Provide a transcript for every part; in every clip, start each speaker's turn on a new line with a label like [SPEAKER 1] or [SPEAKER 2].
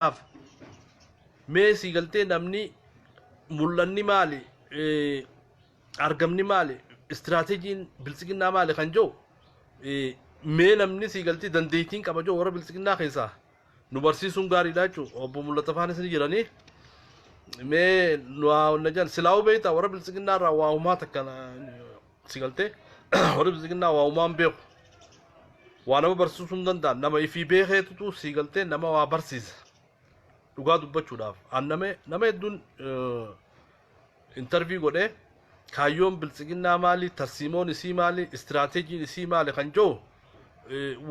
[SPEAKER 1] Kanaaf mee sii galtee namni mul'anni maali, eh, argamni maali, istiraateejiin biltsiginnaa maali kan jiru eh, mee namni sii galtee dandeettiin qaba jiru warra biltsiginnaa keessaa nu barsiisuun gaariidha jechuudha. Obbo Mul'ata Faanis ni jiranii. Mee nu haa honna jedhan silaa'uu beektaa warra biltsiginnaa irraa waa humaa takka na- si galtee warri bilisiginnaa waa uumaan beeku waa nama barsiisuu hin danda'an nama ifii beekeetutu si galtee nama waa barsiisa dhugaa dubbachuudhaaf an nama nama hedduun intarvii godhee kaayyoon bilisiginnaa maali tarsiimoon isii maali istiraateejiin isii maali kan jiru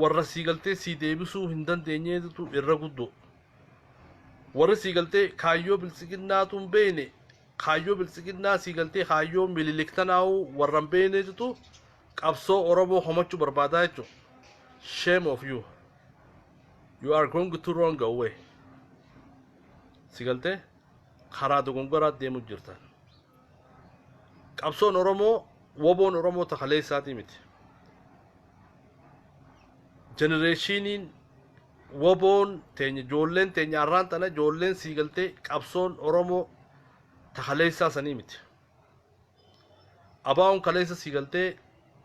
[SPEAKER 1] warra sii galtee sii deebisuu hin dandeenyeetu irra guddoo warri sii galtee kaayyoo bilisiginnaatu hin beekne Kaayyoo biltsiginnaa sii galtee kaayyoo mililik tanaahuu warra hin beeyneetutu qabsoo oromoo komachuu barbaadaa jechuu shame of you you are going to wrong way si galtee karaa dogongoraa deemuu jirtan qabsoon oromoo woboon oromoo takaleessaatii miti jenereeshiiniin Woboon teenya ijoolleen teenya arraan tana ijoolleen sii galtee qabsoon Oromoo ta kaleessaa sanii miti. Abaawoon kaleessa sii galtee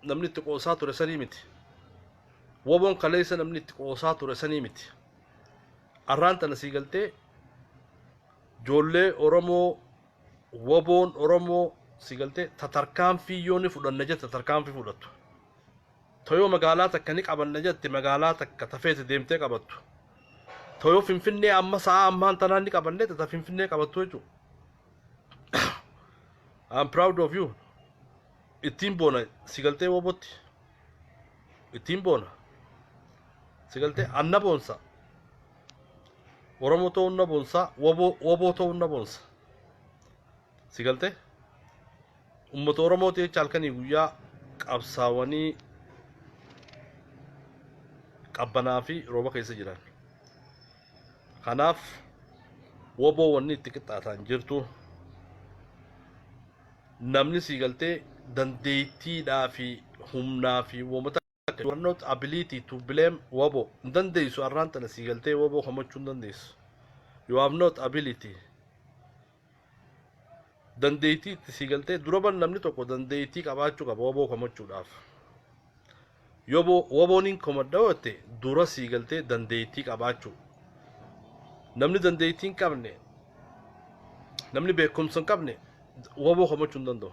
[SPEAKER 1] namni itti qoosaa ture sanii miti. Woboon kaleessa namni itti qoosaa ture sanii miti. Arraan tana sii galtee ijoollee Oromoo woboon Oromoo sii galtee ta tarkaanfii yoo ni fudhanna jette tarkaanfii fudhattu. Toyo magaalaa takka ni qabanna jette magaalaa takka ta feete deemtee qabattu. Toyo Finfinnee amma sa'aa ammaan tanaan ni qabanna jette ta Finfinnee qabattu jechuudha. I'm proud of you. Ittiin boona si galtee wobotti. Ittiin boona. Si galtee anna boonsa. Oromoo ta'uun na boonsa. Woboo woboo ta'uun na boonsa. Si galte? Uummata Oromooti jecha halkanii guyyaa qabsaawanii qabbanaa fi rooba keessa jiran. Kanaaf woboo wanni itti qixxaataan jirtu namni sii galtee dandeettiidhaa fi humnaa fi uummata Akka you are not ability to blame wabo hin dandeessu arraan tana sii galtee wabo komachuu hin dandeessu you have not ability dandeettii itti sii galtee duraban namni tokko dandeettii qabaachuu qaba waboo komachuudhaaf yoboo waboon hin komadha yoo ta'e dura sii galtee dandeettii qabaachuu namni dandeettii hin qabne namni beekumsa hin qabne waboo komachuu hin danda'u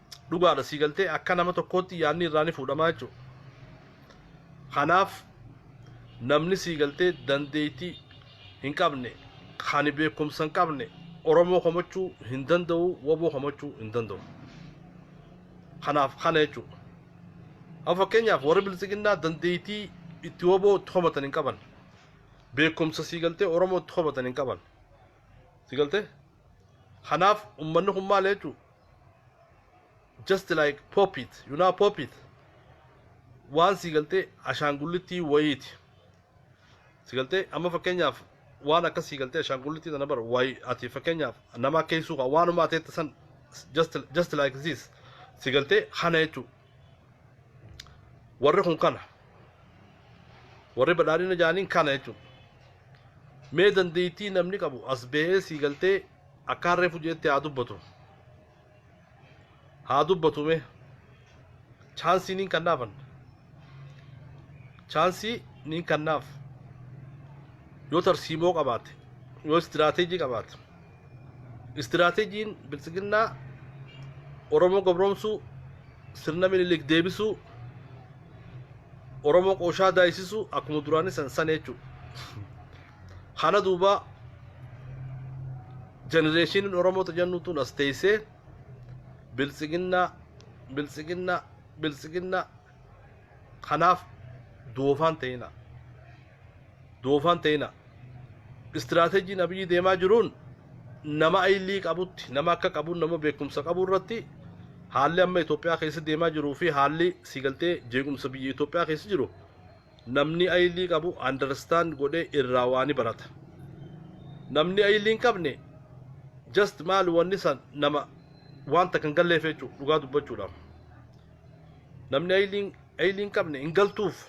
[SPEAKER 1] dhugaadha sii galtee akka nama tokkootti yaadni irraa ni fuudhamaa jechuudha. Kanaaf namni sii galtee dandeettii hin qabne kan beekumsa hin qabne Oromoo komachuu hin danda'u waboo komachuu hin danda'u. Kanaaf kana jechuudha. Amma fakkeenyaaf warri bilisiginnaa dandeettii itti waboo itti komatan hin qaban. Beekumsa sii galtee Oromoo itti komatan hin qaban. Sii galtee? Kanaaf uummanni kun maal jechuudha? just like pop it you know pop it waan sii galtee ashaangullittii wayiiti si galtee amma fakkeenyaaf waan akka sii galtee ashaangullittii tana bara wayi ati fakkeenyaaf nama akka hin suuqa waanuma ati jette san just just like this si galtee kana jechuu warri kun kana warri badhaadhina jaaniin kana jechuudha mee dandeettii namni qabu as ba'ee sii galtee Akkaan reefu jeetti haa dubbatu. Haa dubbatu mee. Chaansii niin kannaafan. Chaansii niin kannaaf. Yoo tarsiimoo qabaate, yoo istiraateejii qabaate. Istiraateejiin biltsiginnaa Oromoo gabroomsuu, sirna minilik deebisuu, Oromoo qooshaa daayisisuu akkuma duraanii san sana jechuudha. Kana duuba jenereeshiniin Oromoo tajannu tun as teessee biltsiginnaa biltsiginnaa biltsiginnaa kanaaf doofaan ta'ina. Doofaan ta'ina. Istiraateejiin abiyyi deemaa jiruun nama ayilii qabutti nama akka qabu nama beekumsa qabu irratti haalli amma Itoophiyaa keessa deemaa jiruu fi haalli siigaltee jeequmsa biyya Itoophiyaa keessa jiru namni ayilii qabu understand godhee irraa waani barata namni ayilii hin qabne just maal wanni san nama wanta kan galleef jechuudha dhugaa dubbachuudhaaf namni ayilii ayilii hin qabne hin galtuuf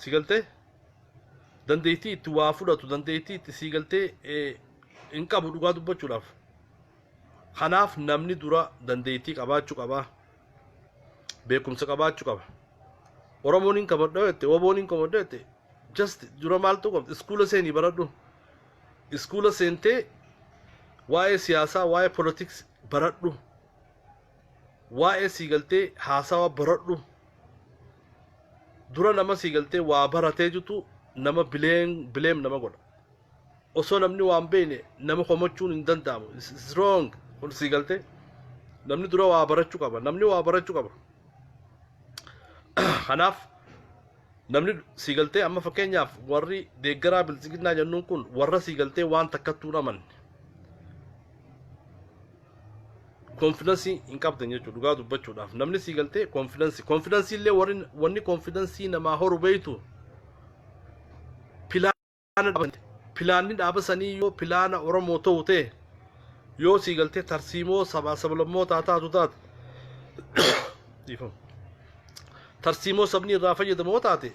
[SPEAKER 1] si galtee dandeettii itti waa fudhatu dandeettii itti sii galtee eh, hin qabu dhugaa dubbachuudhaaf kanaaf namni dura dandeettii qabaachuu qaba beekumsa qabaachuu qaba oromoon hin kamadhoo jette oboon hin kamadhoo jette just dura maaltu qabda iskuula seenii baradhu iskuula seentee waa'ee siyaasaa waa'ee politiks baradhu waa'ee sii galtee haasawa baradhu dura nama sii galtee waa baratee jitu nama bileem bileem nama godha osoo namni waan beeyne nama komachuun hin danda'amu It's- it's wrong kun sii galte namni dura waa barachuu qaba namni waa barachuu qaba kanaaf namni sii galtee amma fakkeenyaaf warri deeggaraa biltsiginnaa jennuun kun warra sii galtee waan takkattuu hin amanne konfidansii hin qabdan jechuudha dhugaa dubbachuudhaaf namni sii galtee konfidansii konfidansii illee warri wanni konfidansii namaa horu beeytu pilaana dhaabante pilaanni dhaaba sanii yoo pilaana Oromoo ta'u ta'e yoo sii galtee tarsiimoo sabaa sablammootaa taatu taate dhiifama. tarsiimoo sabni irraa fayyadamu yoo taate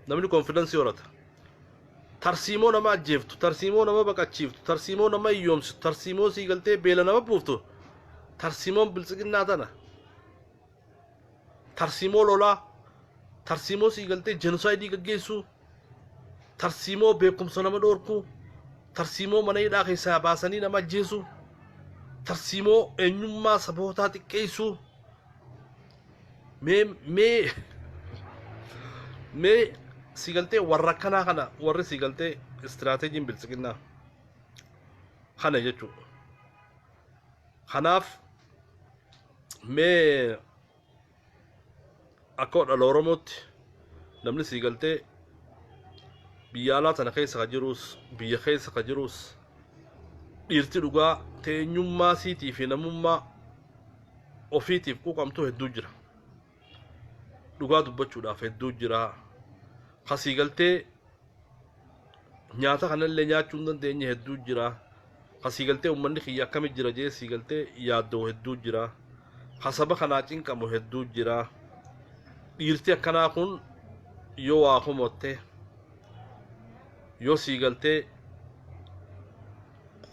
[SPEAKER 1] namni konfidansii horata. Tarsiimoo nama ajjeeftu, tarsiimoo nama baqachiiftu, tarsiimoo nama hiyyoomsitu, tarsiimoo sii galtee beela nama buuftu, tarsiimoon biltsiginnaa tana tarsiimoo lolaa, tarsiimoo sii galtee jenosaayidii gaggeessuu, tarsiimoo beekumsa nama dhoorkuu, tarsiimoo mana hidhaa keessaa baasanii nama ajjeesuu, tarsiimoo eenyummaa sabootaa xiqqeessuu, mee mee mee sii galtee warra akkanaa kana warri sii galtee istiraateejiin biltsiginnaa kana jechuudha. Kanaaf mee akka odhala Oromootti namni sii galtee biyya alaa tana keessa ka jiruus biyya keessa ka jiruus dhiirti dhugaa teenyummaa siitii fi namummaa ofiitiif quuqamtuu hedduu jira. Dhugaa dubbachuudhaaf hedduu jira. Ka sii galtee nyaata kanallee nyaachuu hin dandeenye hedduu jira ka sii galtee ummanni kiyya akkami jira jee sii galtee yaaddoo hedduu jira ka saba kanaa cinqamu hedduu jira dhiirti akkanaa kun yoo waa komotte yoo sii galtee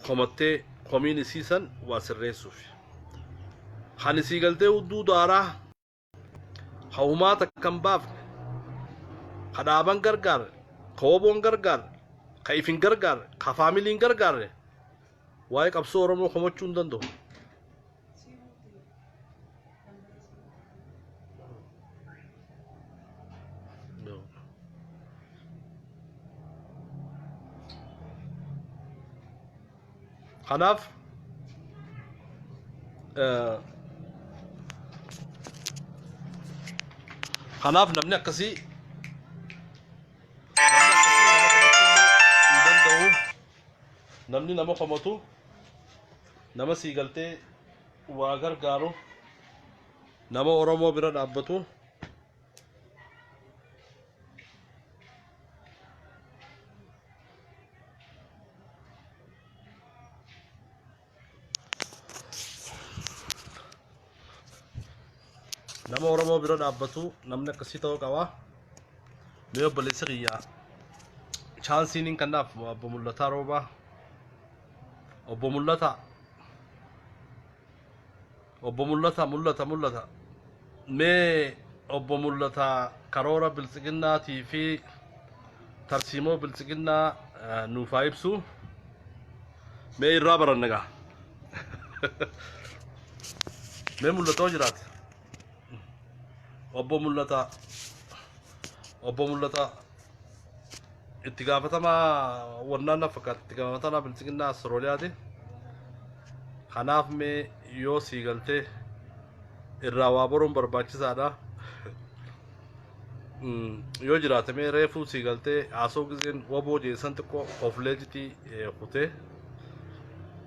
[SPEAKER 1] komattee komiin isiisan waa sirreessuuf kan isii galtee hudduu daaraa ka humaa takka hin baafne ka dhaaban gargaarre ka woboon gargaarre ka ifin gargaarre ka faamiliin gargaarre waa'ee qabsoo oromoo komachuu hin danda'u Kanaaf kanaaf namni akkasii hin danda'u namni nama komatu nama sii galtee waa gargaaru nama Oromoo bira dhaabbatu nama oromoo bira dhaabbatu namni akkasii ta'uu qaba mee obboleessa kiyya chaansiin hin kannaaf obbo Mul'ataa Roobaa obbo Mul'ataa Obbo Mul'ata Mul'ata Mul'ata Mee Obbo Mul'ata karoora biltsiginnaatii fi tarsiimoo biltsiginnaa eh, nuuf haa ibsu. Mee irraa baranna gaa. Mee mul'atoo jiraate. Obbo Mul'ata Obbo Mul'ata itti gaafatamaa wannaan na fakkaata itti gaafatamaa bilchiginnaa Astrooliyaati. Kanaaf mee yoo sii galtee irraa waa baruun barbaachisaadha. Mm, Yoo jiraate mee reefuu sii galtee haasoo gizeen waboo jeessan xiqqoo of leejitii eh, kutee.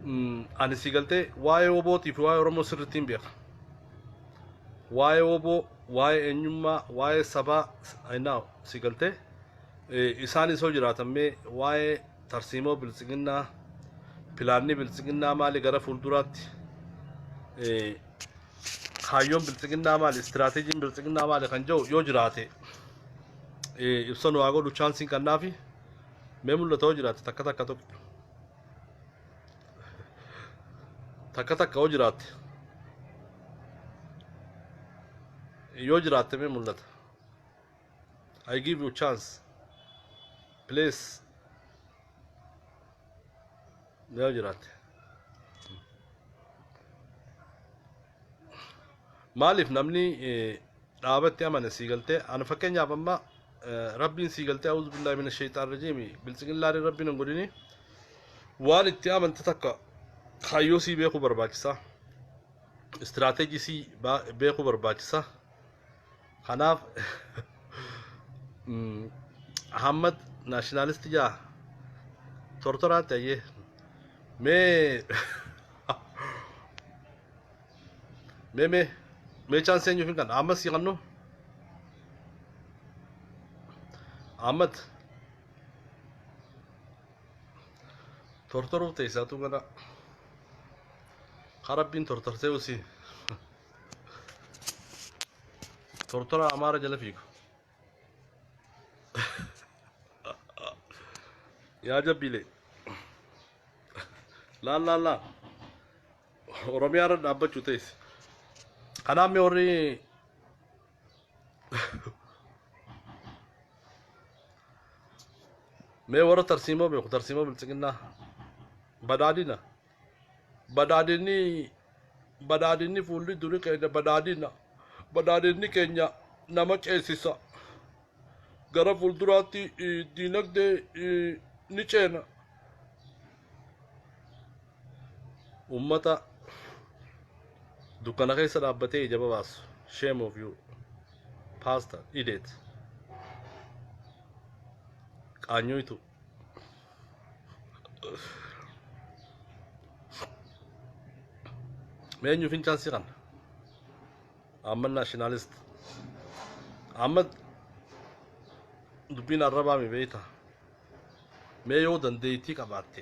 [SPEAKER 1] Mm, Ani sii galtee waa'ee wabootii fi waa'ee Oromoo sirriitti hin beeka. Waa'ee waboo, waa'ee eenyummaa, waa'ee sabaa, I know. Si galtee? Isaan isoo jiraatan mee waa'ee tarsiimoo biltsiginnaa pilaanni biltsiginnaa maali gara fuulduraatti kaayyoon biltsiginnaa maali istiraateejiin biltsiginnaa maali kan jedhu yoo jiraate ibsa nu haa godhu chaansiin kannaafi mee mul'ata yoo jiraate takka takka tokko takka takka yoo jiraatte yoo jiraatte mee mul'ata. I give you chance. Please. Yaa jiraate. Maaliif namni eh, dhaabatti amane sii galtee ana fakkeenyaaf amma eh, rabbiin sii galtee auzu billahi mina shaytaan rajiimi biltsigillaadhi rabbiin hin godhini waan itti amante takka kaayyoo sii beekuu barbaachisa istiraateejii sii baa- beekuu barbaachisa Kanaaf Ahmad naashinaalisti jaa tortoraa ta'ee mee mee mee mee chaansii eenyuuf hin kan Ahmad sii kannu Ahmad tortoruu teessaatu gana karabbiin tortorsee usii. Tortora Amaara jala fiigu. Yaa jabbiilee. Laal laal laal. Oromiyaa irra dhaabbachuu ta'es. Kanaaf mee warri mee warra tarsiimoo beeku tarsiimoo biltsiginnaa badaadina. Badhaadhinni Badhaadhinni fuulli duri keenya badhaadhina. Badhaadhinni keenya nama ceesisa. Gara fuulduraatti eh, diinagdee eh, ni ceena. Uummata dukkana keessa dhaabbatee ija babaasu. Shame of you. Pastor, idiot. Qaanyooytu. meenyu fincaan si kana amma nationalist amma dubbiin arrabaa mi beeyta mee yoo dandeeytii qabaatte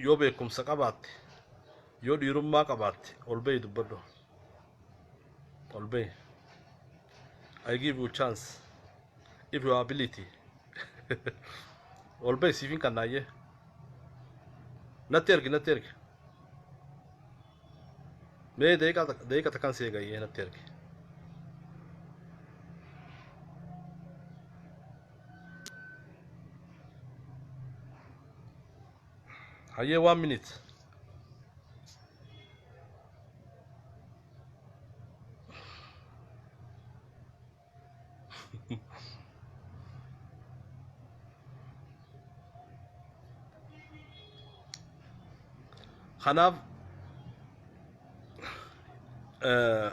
[SPEAKER 1] Yoo beekumsa qabaatte, yoo dhiirummaa qabaatte ol bahi dubbadhu. Ol bahi. I give you chance. If you have ability. ol bahi siifin kan naayyee. Natti ergi, natti ergi. Mee daqiiqa tak- daqiiqa takkan si eegayyee natti ergi. Hayyee one minute. Kanaaf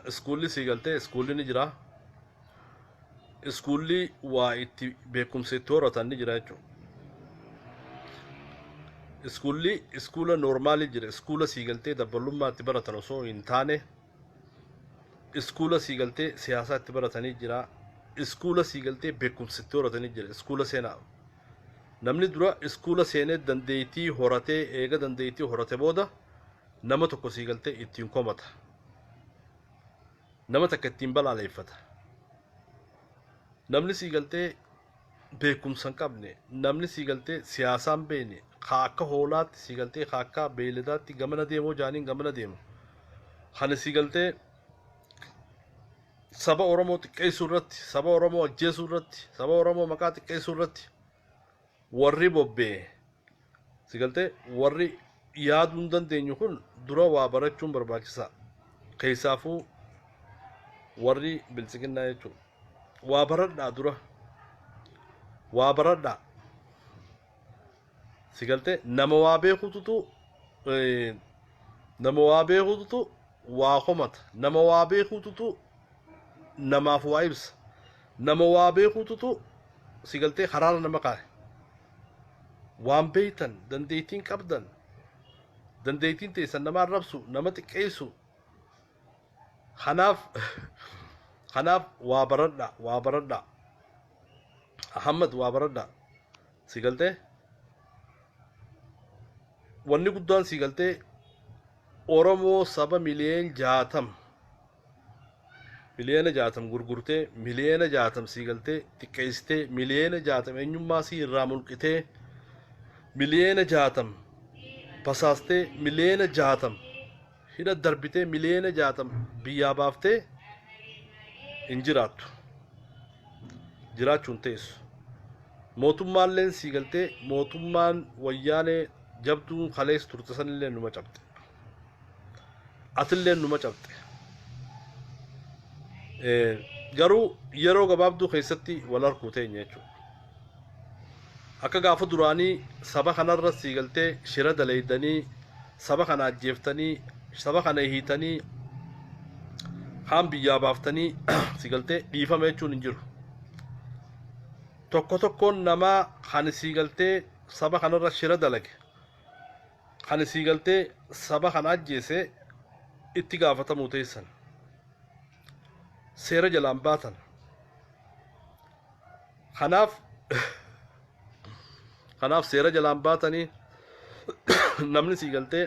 [SPEAKER 1] iskuulli sii galtee iskuulli ni jira. iskuulli waa itti beekumsa itti horatan ni jira jechuudha. Iskuulli iskuula noormaalii jira. Iskuula sii galtee dabballummaa itti baratan osoo hin taane iskuula sii galtee siyaasaa itti baratanii jira. Iskuula sii galtee beekumsa itti horatanii jira. Iskuula seenaa. Namni dura iskuula seenee dandeettii horatee eega dandeettii horate booda nama tokko sii galtee ittiin komata. Nama takka ittiin balaaleeffata. Namni sii galtee beekumsa hin qabne, namni sii galtee siyaasaa hin beekne, haa akka hoolaatti sii galtee haa akka beeyladaatti gamana deemoo jaaniin gamana deemu. Kan sii galtee saba Oromoo xiqqeessuu irratti, saba Oromoo ajjeesuu irratti, saba Oromoo maqaa xiqqeessuu irratti Warri bobbee, si galtee, warri yaaduu hin dandeenyu kun dura waa barachuun barbaachisaa. Keessaafuu warri biltsiginnaa jechuudha. Waa baradhaa dura. Waa baradhaa. Si galtee nama waa beekututu nama waa beekututu waa komata. Nama waa beekututu namaaf waa ibsa. Nama waa beekuututu si galtee karaarra nama kaa'e. Waan beektan, dandeettiin qabdan, dandeettiin teessan nama arrabsu, nama xiqqeessu. Kanaaf kanaaf waa baradha, waa baradha. Ahammad waa baradha. Si galtee? Wanni guddaan si galtee Oromoo saba miliyoon jaatam Miliyoona jaatam gurgurtee, miliyoona jaatam sii galtee, xiqqeessitee, miliyoona jaatam eenyummaa sii irraa mulqitee, miliyoona jaatam basaastee, miliyoona jaatam hidha darbitee, miliyoona jaatam biyyaa baaftee hin jiraattu. Jiraachuun teessu. Mootummaalleen sii galtee, mootummaan wayyaanee jabduun kalees turte sanillee numa cabxe. atilleen numa cabxe Eh, garuu yeroo gabaabduu keessatti wal arguu teenya jechuudha akka gaafa duraanii saba kanarra sii galtee shira daleeydanii saba kana ajjeeftanii saba kana hiitanii kaan biyyaa baaftanii si galtee dhiifama jechuun hin jiru tokko tokkoon namaa kan sii galtee saba kanarra shira dalage Kan isii galtee saba kan ajjeese itti gaafatamuu teessan. Seera jalaan baatan. Kanaaf kanaaf seera jalaan baatanii namni sii galtee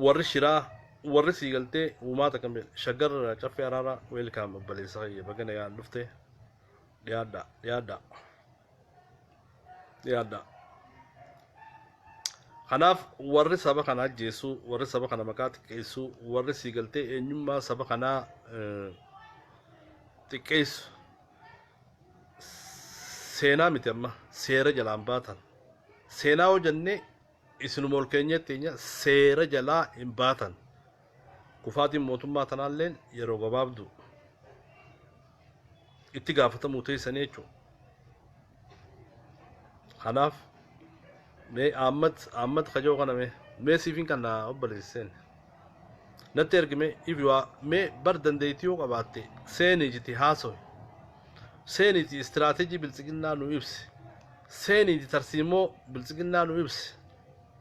[SPEAKER 1] warri shiraa warri sii galtee uumaata kan beeku shaggarra caffee araaraa weelkaam obboleessaa kiyya bagana yaan dhufte dhiyaadhaa dhiyaadhaa. yaadda kanaaf warri saba kana ajjeessu warri saba kana maqaa xiqqeessu warri sii galtee eenyummaa saba kanaa eh, xiqqeessu seenaa miti amma seera jalaan baatan seenaa hojannee isinuma ol keenyatti keenya seera jalaa hin baatan Kufaatiin mootummaa tanaalleen yeroo gabaabdu. Itti gaafatamuu teessanii jechuudha. Kanaaf mee Ahmad Ahmad kajoo kana mee mee siifin kan naa obboleesseen. Natti ergi mee if you are mee bar dandeettii yoo qabaatte seenii jiti haasawi. Seeniiti istiraateejii biltsiginnaa nu ibsi. Seeniiti tarsiimoo biltsiginnaa nu ibsi.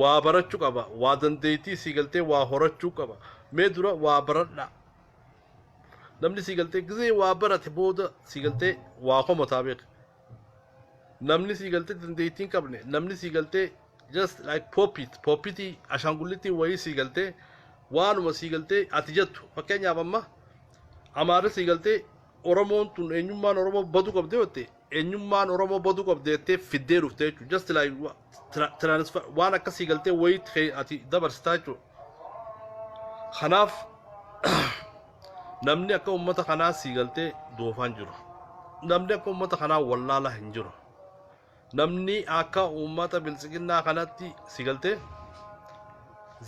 [SPEAKER 1] waa barachuu qaba waa dandeettii sii galtee waa horachuu qaba mee dura waa baradhaa namni sii galtee gizee waa barate booda sii galtee waa komataa beeka namni sii galtee dandeettii hin qabne namni sii galtee just like poppit poppitii ashaangullitii wayii sii galtee waanuma sii galtee ati jettu fakkeenyaaf amma amaarri sii galtee oromoon tun eenyummaan oromoo baduu qabdee jette Eenyummaan Oromoo baduu qabdi jettee fiddee dhufte jechuudha. Just like wa- tra- transfer waan akkasii galtee wayii kee ati dabarsitaa jechuudha. Kanaaf namni akka uummata kanaa sii galtee doofaa hin jiru. Namni akka uummata kanaa wallaalaa hin jiru. Namni akka uummata biltsiginnaa kanatti sii galtee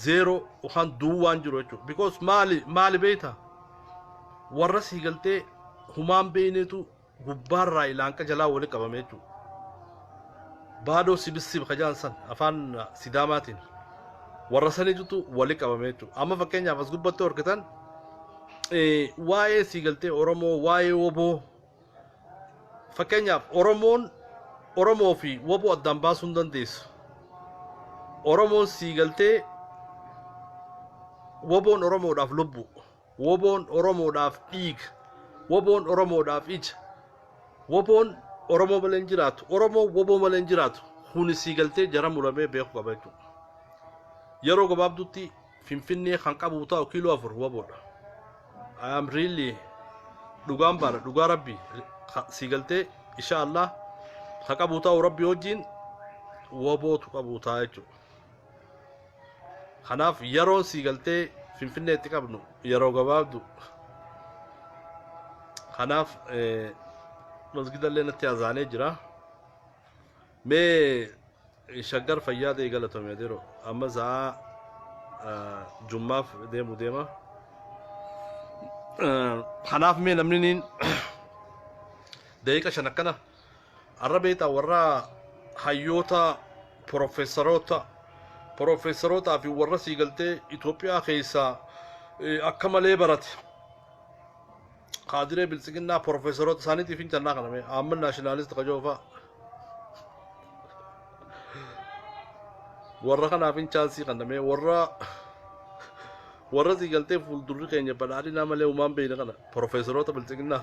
[SPEAKER 1] zeeroo yookaan duwwaa hin jiru jechuudha. Because maali maali beektaa? warra sii galtee humaan beeyneetu gubbaarraa ilaanqa jalaa wali qabame jechuudha. Baadoo sibissib kajaan san afaan sidaamaatiin warra saniitutu wali qabame jechuudha. Amma fakkeenyaaf as gubbatti horkitan waa'ee sii galtee Oromoo waa'ee woboo fakkeenyaaf Oromoon Oromoo fi woboo addaan baasuu hin dandeessu. Oromoon sii galtee woboon Oromoodhaaf lubbu. Woboon Oromoodhaaf dhiiga. Woboon Oromoodhaaf ija. Woboon Oromoo malee hin jiraatu. Oromoon woboo malee hin jiraatu. Kuni sii galtee jara muramee beeku qaba jechuudha. Yeroo gabaabduutti Finfinnee kan qabu ta'u kiiloo afur woboodha. I am really dhugaan baana dhugaa rabbi ka- sii galtee insha Allah ka qabu ta'u rabbi wajjin wobootu qabu ta'a jechuudha. Kanaaf yeroon sii galtee Finfinneetti qabnu yeroo gabaabdu. Kanaaf masgidallee natti azaanee jira. Mee shaggar fayyaa ta'e galatoomi adeeroo. Amma sa'aa jummaaf deemu deema. Kanaaf mee namni niin daqiiqa shan akkana Arra beektaa warra hayyoota profeesaroota profeesarootaa fi warra sii galtee Itoophiyaa keessaa eh, akka malee barate kaadiree biltsiginnaa profeesaroota isaaniitiif hin jannaa kana mee amma naashinaalisti kajoofaa warra kanaaf hin chaansii kana mee warra warra sii galtee fuuldurri keenya badhaadhinaa malee umaan beeyna kana profeesaroota biltsiginnaa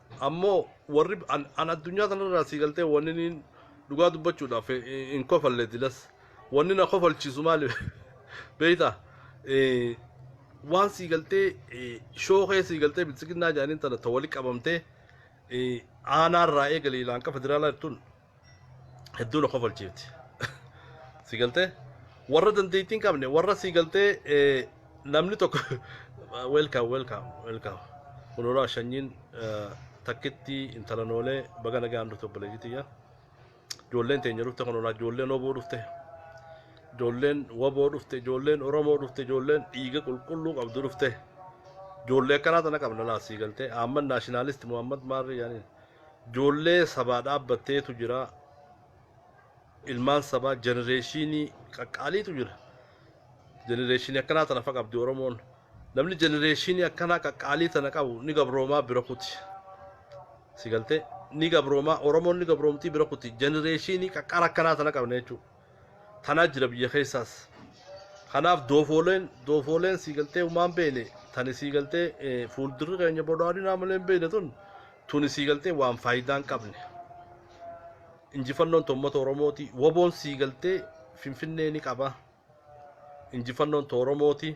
[SPEAKER 1] Ammoo warri an, an addunyaa tanarraa sii galtee wanni niin dhugaa dubbachuudhaaf hin- hin hin kofalle dilas wanni na kofalchiisu maali beeyta Eh, waan sii galtee eh, shookee sii galtee biltsiginnaa jedhaniin tana ta wali qabamtee eh, aanaarraa eegalee laanqa federaalaa jirtuun hedduu na kofalchiifti si galtee warra dandeettii hin qabne warra si galtee eh, namni tokko welcome welcome welcome kunuraa shanyiin eh, takkitti intala noolee baga nagaan dhufte obboleettii tiyya ijoolleen teenya dhufte kunuraa ijoolleen oboo dhufte ijoolleen waboo dhufte ijoolleen oromoo dhufte ijoolleen dhiiga qulqulluu qabdu dhufte ijoollee akkanaa tana qabna laa sii galtee ahmad naashinaalisti muhammad maarri yaaniin Ijoollee sabaa dhaabbatteetu jira. Ilmaan sabaa jenereeshiinii qaqqaaliitu jira. Jenereeshiinii akkanaa tana fa qabdi Oromoon. Namni jenereeshiinii akkanaa qaqqaalii tana qabu ni gabroomaa bira kuti. Si galtee? Ni gabroomaa Oromoon ni gabroomtii bira kuti. Jenereeshiinii qaqqaara akkanaa tana qabna jechuudha. tanaa jira biyya keessaas kanaaf doofooleen doofooleen sii galtee umaan beeyne tani sii galtee eh, fuuldurri keenya bodhaadhinaa malee hin beeyne tun tuni sii galtee waan faayidaa hin qabne injifannoon toommata oromooti waboon sii galtee finfinnee ni qaba injifannoon too oromooti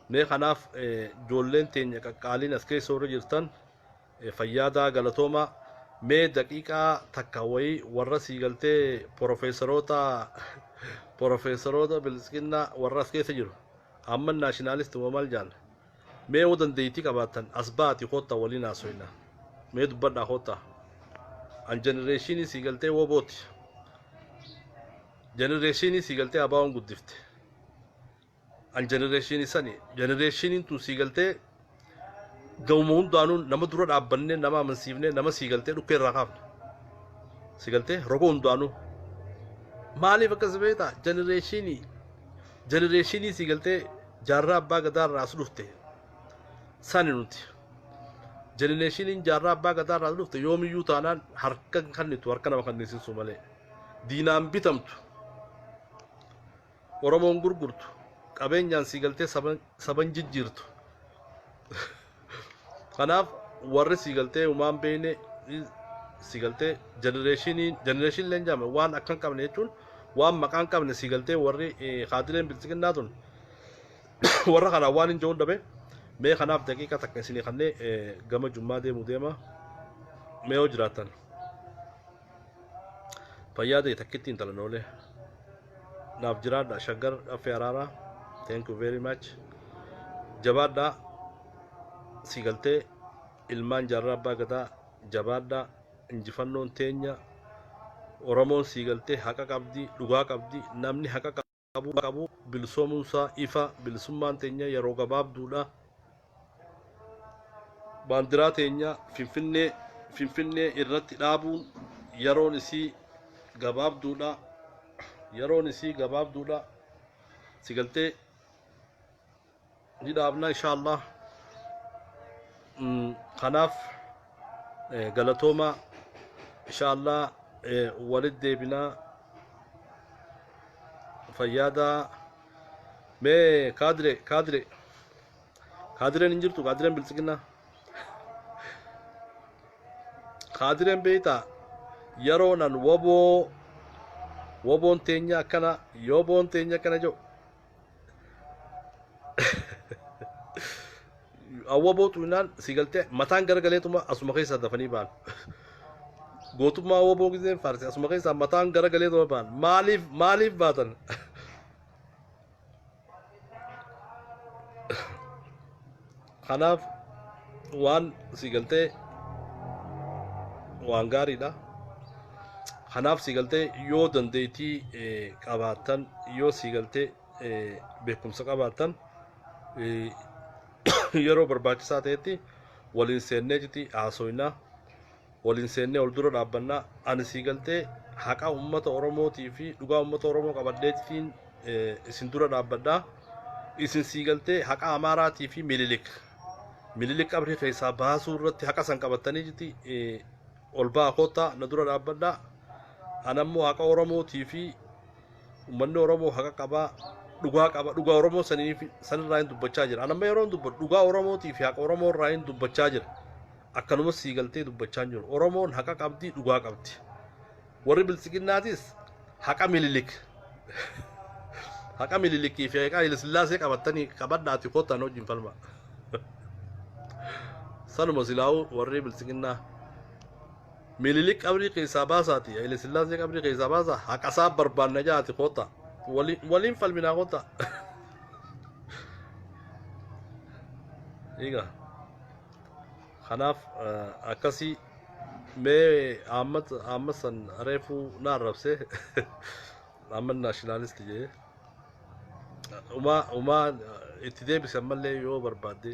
[SPEAKER 1] mee kanaaf eh, ijoolleen teenya qaqqaaliin as keessa warri jirtan Fayyaadaa galatooma mee daqiiqaa takka wayii warra sii galtee porofeesaroota porofeesaroota biltsiginnaa warra as keessa jiru amma naashinaalisti moo maal jaan mee yoo dandeeytii qabaattan as baati koottaa waliin haasoyna mee dubbadhaa koottaa an jenereeshiinii sii galtee wobooti jenereeshiinii sii galtee abaawoon guddifte an generation isani generationiin tun sii galtee gahuma hundaanuu nama dura dhaabbanne nama amansiifne nama sii galtee dhukkee irraa kaafne sii galtee roga hundaanuu maaliif akkas beekta generatiinii generatiinii sii galtee jaarraa abbaa gadaa irraa as dhufte sani nuti generatiiniin jaarraa abbaa gadaa irraa as dhufte yoomiyyuu taanaan harka hin kennitu harka nama kenniisisuu malee diinaan bitamtu Oromoon gurgurtu, qabeenyaan sii galtee saba saba hin jijjiirtu. Kanaaf warri sii galtee uumaa hin beekne i- sii galtee jenereeshinii jenereeshinii illee hin jaamne waan akka hin qabne jechuun waan maqaa hin qabne sii galtee warri eh, kaadileen bilxiginnaa tun warra kanaa waan hin jehuun dhabe mee kanaaf daqiiqa takka isinii kannee eh, gama jummaa deemu deema mee yoo jiraattan fayyaa ta'e takkitti intala noolee. naaf jiraadha shaggar affee araaraa thank you very much jabaadhaa sii galtee ilmaan jaarraa abbaa gadaa jabaadhaa injifannoon teenya oromoon sii galtee haqa qabdi dhugaa qabdi namni haqa qabu qabu bilisoomuunsaa ifa bilisummaan teenya yeroo gabaabduudha baandiraa teenya Finfinnee Finfinnee irratti dhaabuun yeroon isii gabaabduudha yeroon isii gabaabduudha si galtee ni dhaabna inshaallah Mm, kanaaf eh, galatoomaa inshaallah eh, walit deebinaa fayyaadaa mee kaadire kaadire Kaadireen hin jirtu kaadireen biltsiginnaa. Kaadireen beektaa yeroo nan waboo waboon teenya akkana yoboon teenya akkana jiru. Awwaboo tuulinaan si galtee mataan garagaleetuma asuma keessaa dafanii ba'an. Gootummaa awwaboo giseen faarse asuma keessaa mataan garagaleetuma ba'an. Maaliif maaliif baatan? kanaaf waan si galtee waan gaariidha kanaaf si galtee yoo dandeettii eh, qabaattan yoo si galtee eh, beekumsa qabaattan eh, yeroo barbaachisaa ta'etti waliin seennee jiti haasoinaa Waliin seennee wal dura dhaabbanna. Ani sii galtee haqa uummata Oromootii fi dhugaa uummata Oromoo qabadheetiin isin dura dhaabbadha. Isin sii galtee haqa Amaaraatii fi Mililik. Mililik qabrii keessaa baasuu irratti haqa san qabattanii jirti ol ba'a koottaa na dura dhaabbadha. Anammoo haqa Oromootii fi uummanni Oromoo haqa qabaa dhugaa qaba dhugaa Oromoo saniif sanirraa hin dubbachaa jira. Anamma yeroo hin dubbadhu dhugaa Oromootii fi haqa Oromoo irraa hin dubbachaa jira. Akkanumas sii galtee dubbachaa hin jiru. Oromoon haqa qabdi, dhugaa qabdi. Warri biltsiginnaatis haqa Minilik haqa Minilikii fi haqa Hayilasillaasee qabattanii qabadhaati kottaan wajjin falmaa. Sanuma silaa'uu warri biltsiginnaa Minilik qabrii keessaa baasaati, Hayilasillaasee qabrii keessaa baasaa haqasaa barbaanna jaati kottaa. Waliin waliin falminaa kottaa. Egaa. Kanaaf akkasii mee Ahmad Ahmad san reefuu na arrabse Ahmad nationalist jee umaa umaa itti deebise ammallee yoo barbaadde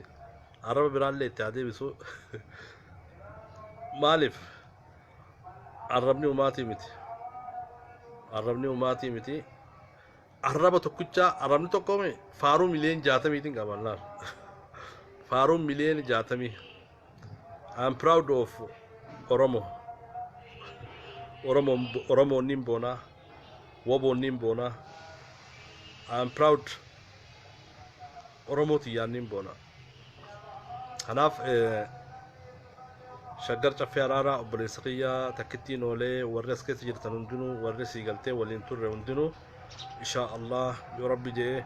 [SPEAKER 1] arraba biraallee itti haa deebisu maaliif arrabni umaatii miti arrabni umaatii miti Arraba tokkicha arrabni tokko mee faaruu miliyoon jaatamiitiin qaba laal. Faaruu miliyoon jaatamii. I'm proud of Oromo. Oromo Oromo niin boonaa. Wobo niin boonaa. I'm proud Oromo tiyyaan niin boonaa. Kanaaf eh, shaggar caffee araaraa obboleessa kiyya takkittiin oolee warri as keessa jirtan hundinuu warri sii galtee waliin turre hundinuu insha Allah yoo rabbi jee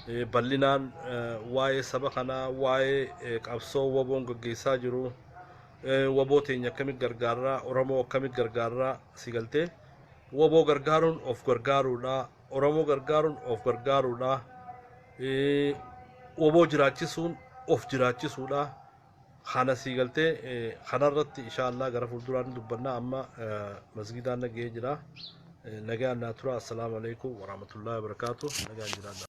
[SPEAKER 1] eh, bal'inaan eh, waa'ee saba kanaa waa'ee eh, qabsoo waboon gaggeessaa jiru eh, waboo teenya akkamitti gargaarraa oromoo akkamitti gargaarraa sii galtee waboo gargaaruun of gargaaruudha Oromoo gargaaruun of gargaaruudha. Oboo jiraachisuun of jiraachisuudha. Kana sii galtee kanarratti inshaallah gara fuulduraan dubbannaa amma masgidaan nagahee jira. Nagaan naa tura. Assalaamu alaikum warahmatullahi wabarakatuh. Nagaan jiraadha.